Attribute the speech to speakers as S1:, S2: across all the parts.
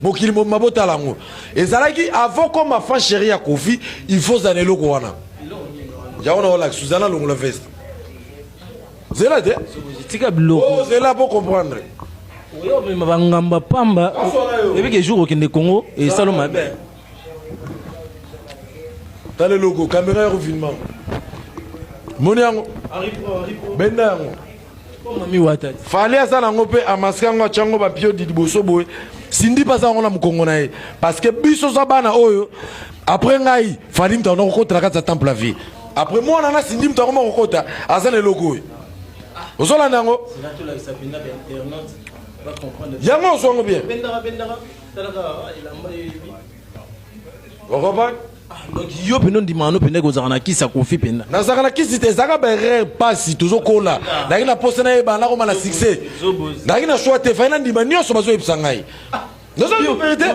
S1: mokili mobimba botala yango ezalaki avant comme enfant chéri ya kofi il faut zana eloko wana yango naolakisa zana longola veste zela te tika biloko oh,
S2: zela po comprendre
S1: oyo omema
S2: bangamba pamba ebike jour okende congo esalo mabe
S1: tala eloko kamera ya kofinma moni yango benda yango
S2: fali aza nango mpe
S1: amaske yango atya yango bapiodi liboso boye sindi mpe aza yango na mokongo na ye parce que biso za bana oyo après ngai fali moto akona kokota na kati ya temple ya vie après mwana na sindi moto akoma kokota aza na eloko oyo ozolanda yango yango ozwango bien okompane donc yo mpenza
S2: ondimaka no mpenza ekozalaka na kisi ya kofi mpenza nazalaka na kisi te ezalaka
S1: baerreur mpasi tozokola nayaki na posa nayeba nakoma na succès nayaki na swa te fai nandima nyonso bazoyebisa ngai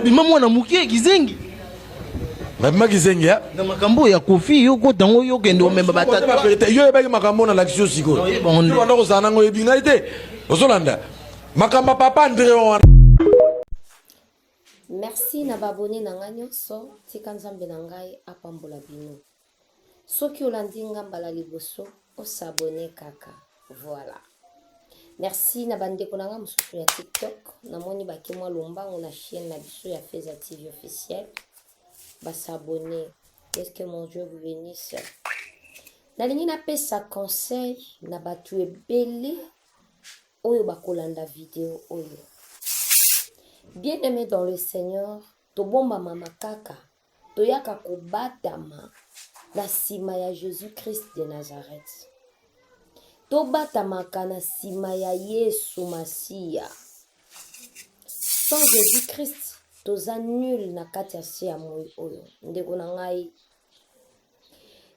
S1: bima mwana moke
S2: kizengi
S1: babima kizengi ya na makambo oyo ya kofi
S2: yo kota yango yo kende omemba batata yo oyebaki makambo
S1: oyo nalakisi yo sikoyo wana kozala nango oyebi ngai te ozolanda makambo ya papa andre wana
S3: Merci na ba abonne na nga nyonso, tika Nzambe na ngai apambola bino. Soki olandi nga mbala liboso, osabone kaka. Voilà. Merci na bandeko na nga mosusu ya TikTok. Namoni bake mwa lombango na chaîne na biso ya Feza TV officiel. Basabone. Est-ce que mon Dieu vous bénisse? nalingi napesa conseil na bato ebele oyo bakolanda video oyo bien aimé dans le seigneur tobombama makaka toyaka kobatama na nsima ya jésus christ de nazareth tobatamaka na nsima ya yesu masiya sans jésus christ toza nul na kati ya se ya moi oyo ndeko na ngai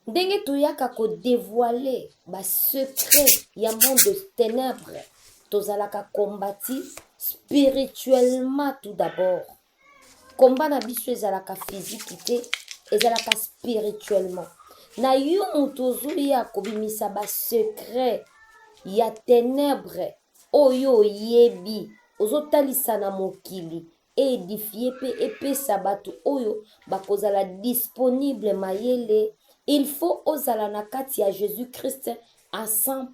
S3: ndenge toyaka kodevoile basecret ya monde ténèbre tozalaka combati spirituellement tout d'abord komba na biso ezalaka fiziki te ezalaka spirituellement na yo moto ozoya kobimisa basecret ya ténèbre oyo oyebi ozotalisa na mokili e edifier mpe epesa bato oyo bakozala disponible mayele il faut ozala na kati ya jesus christ à 100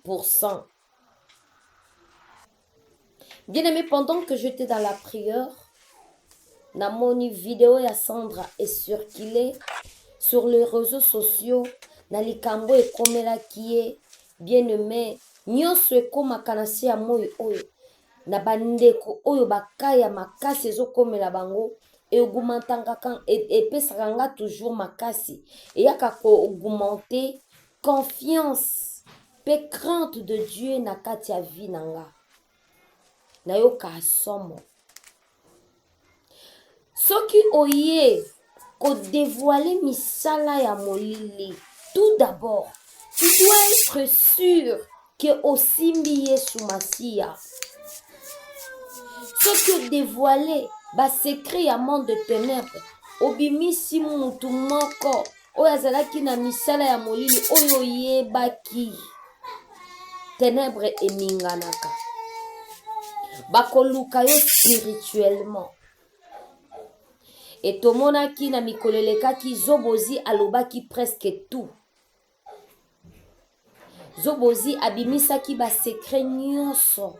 S3: bien aimé pendant que j'étais dans la prière namoni video ya sandra ecircule sur les réseaux sociaux na likambo ekomelaki ye bien aimé nyonso ekomaka na se ya moi oyo na bandeko oyo baka ya makasi ezokomela bango eaugmentaka epesaka nga toujours makasi eyaka koaugmente confiance mpe crainte de dieu na kati ya vie na nga nayoka somo soki oye kodevoile misala ya molili tout d'abord tu dois être sûr ke osimbi yesu masiya soki odevoile basekret ya monde de ténèbre obimisi mutu moko oyo azalaki na misala ya molili oyo oyebaki tenebre eninganaka bakoluka yo spirituellement etomonaki na mikolo elekaki zobozi alobaki presque tout zobozi abimisaki basekre nyonso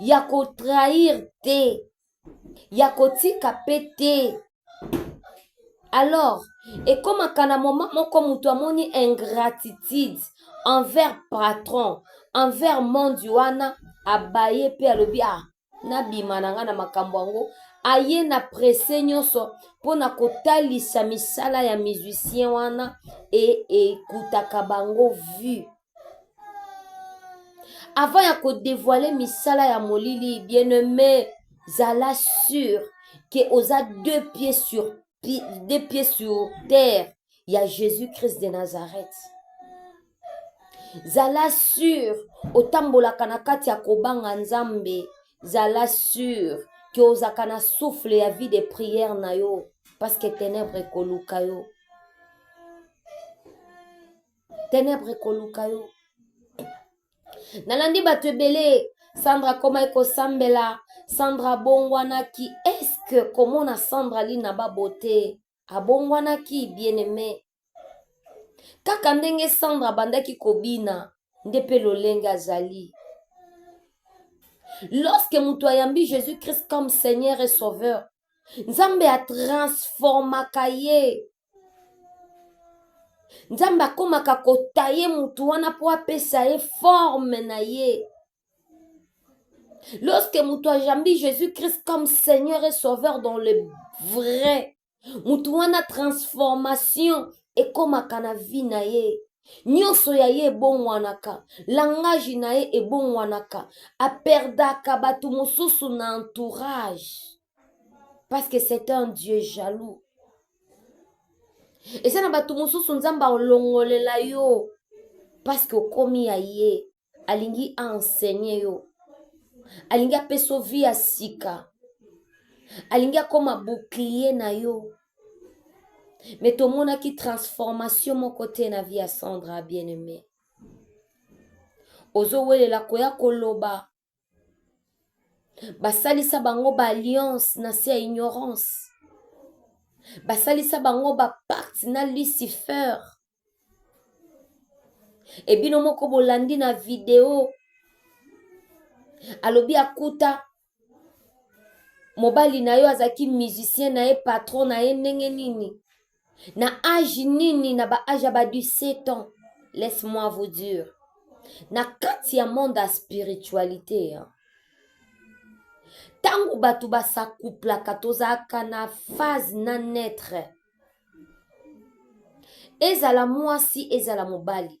S3: ya kotrahir te ya kotika mpe te alors ekomaka na moma moko moto amoni ingratitude envers patron envers monde wana abaye mpe alobi ah nabima na ngai na makambo yango aye na presse nyonso mpo na kotalisa misala ya musicien wana e ekutaka bango vue avant ya kodevoile misala ya molili bien aime zala sur ke oza deux pieds sur deux pieds sur terre ya jésus christ de nazareth zala sur otambolaka na kati ya kobanga nzambe zala sur ke ozaka na souffle ya vie de prière na yo parce que ténèbre ekoluka yo tenebre ekoluka yo nalandi bato ebele sandra akomaki kosambela sandra abongwanaki eske komona sandra lina babote abongwanaki bien aime kaka ndenge sandra abandaki kobina nde mpe lolenge azali lorsque moto ayambi jésus christ comme seigneur et sauveur nzambe atransformaka ye nzambe akomaka kotaye motu wana mpo apesa ye forme na ye lorsque motu ajambi jésus christ comme seigneur et sauveur dans le vrai motu wana transformation ekomaka na vie na ye nyonso ya ye ebongwanaka langage na ye ebongwanaka aperdaka bato mosusu na entourage parce que c'est un dieu jaloux eza na bato mosusu nzambe aolongolela yo parce que okomi ya ye alingi aenseigne yo alingi apesa yo vie ya sika alingi akoma bouclier na yo me tomonaki transformation moko te na vie ya sandra bien aimé ozowelela koya koloba basalisa bango baalliance na se ya ignorance basalisa bango bapakte na lucifer ebino moko bolandi na video alobi akuta mobali na yo azalaki musicien na ye patron na ye ndenge nini na age nini na ba age ya ba 17 ans laisse moi vous dire na kati ya monde ya spiritualité hein. ntango bato basakouplaka tozalaka na phase na netre ezala mwasi ezala mobali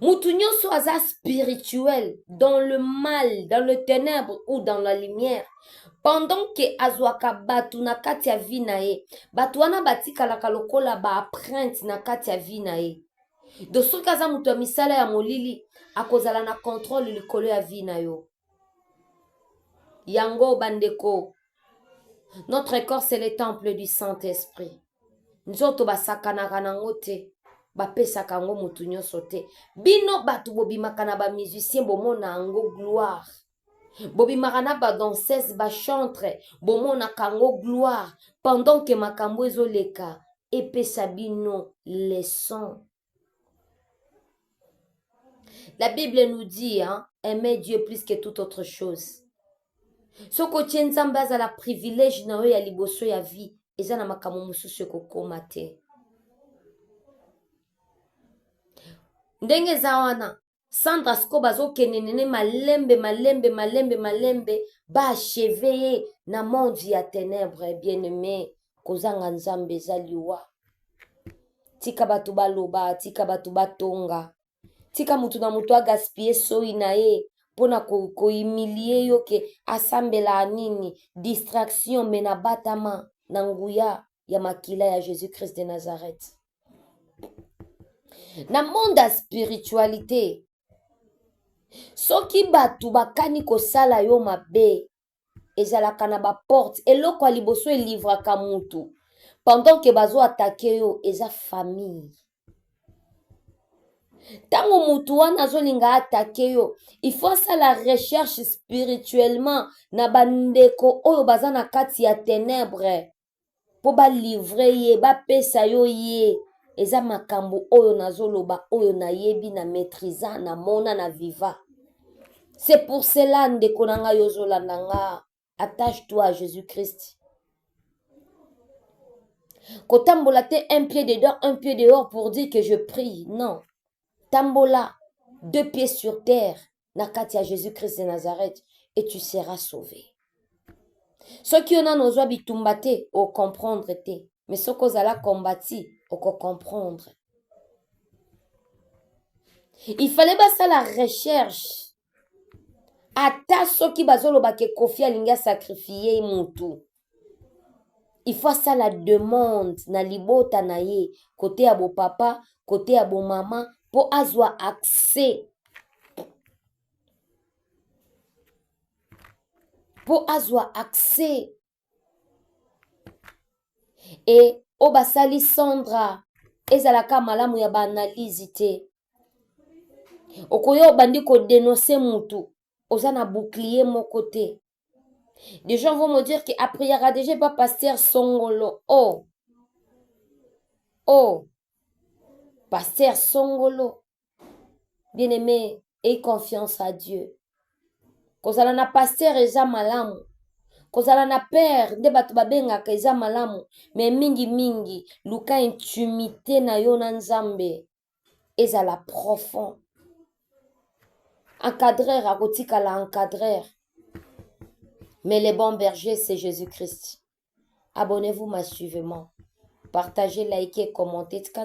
S3: mutu nyonso aza spirituel dans le mal dans le ténèbre ou dans la lumière pendant ke azwaka bato na kati ya vie na ye bato wana batikalaka lokola baaprinte na kati ya vie na ye do soki aza moto ya misala ya molili akozala na controle likolo ya vie na yo yango bandeko notre corps c'est le temple du saint esprit nzoto basakanaka nango te bapesaka yango motu nyonso te bino bato bobimaka na bamusicien bomona yango gloire bobimaka na badanseuse bachantre bomonaka yango gloire pendant ke makambo ezoleka epesa bino leson La Bible nous dit, hein, aimer Dieu plus que toute autre chose. soki otie nzambe azala privilege na yo ya liboso ya vie eza na makambo mosusu ekokoma te ndenge eza wana Sandra siko bazokende nene malembe malembe malembe malembe baacheve ye na monde ya tenebre bien aime kozanga nzambe eza liwa tika bato baloba tika bato batonga tika motu na motu agaspille soyi na ye mpo na kohumilie ko yo ke asambelaa nini distraction me nabatama na nguya ya makila ya jésus christ de nazareth na monde ya spiritualite soki bato bakani kosala yo mabe ezalaka na baporte eloko ya liboso elivraka motu pendant ke bazoatake yo eza famille ntango motu wana azolinga atake yo il faut asala recherche spirituellement na bandeko oyo baza na kati ya tenebre mpo balivre ye bapesa yo ye eza makambo oyo nazoloba oyo nayebi na maîtrisa na mona na viva c'est pour cela ndeko na ngai ozolanda nga attache toi à jésus christ kotambola te un pied dedans un pied dehors pour dire que je prie non tambola deux pieds sur terre na kati ya jésus christ de nazareth et tu seras sauvé soki yo nano ozwa bitumba te ocomprendre te mais soki ozala combati okocomprendre il fallait basala recherche ata soki bazoloba ke kofi alingi asakrifie mutu il faut asala demande na libota na ye kote ya bopapa kote ya bomama mpo azwa accès mpo azwa accès e oyo basali sandra ezalaka malamu ya baanalyse te okoya obandi kodenonse mutu oza na bouclier moko te Des gens vont me dire que après Yaradege pas pasteur Songolo. Oh. Oh. Pasteur Songolo. Bien-aimé, aie confiance à Dieu. kozala na pasteur eza malamu kozala na père nde bato babengaka eza malamu me mingimingi luka intimité na yo na nzambe ezala profond encadreur akotikala encadreur mais le bon berger c'est jésus christ abonnez-vous massivement partagez likez commentez tika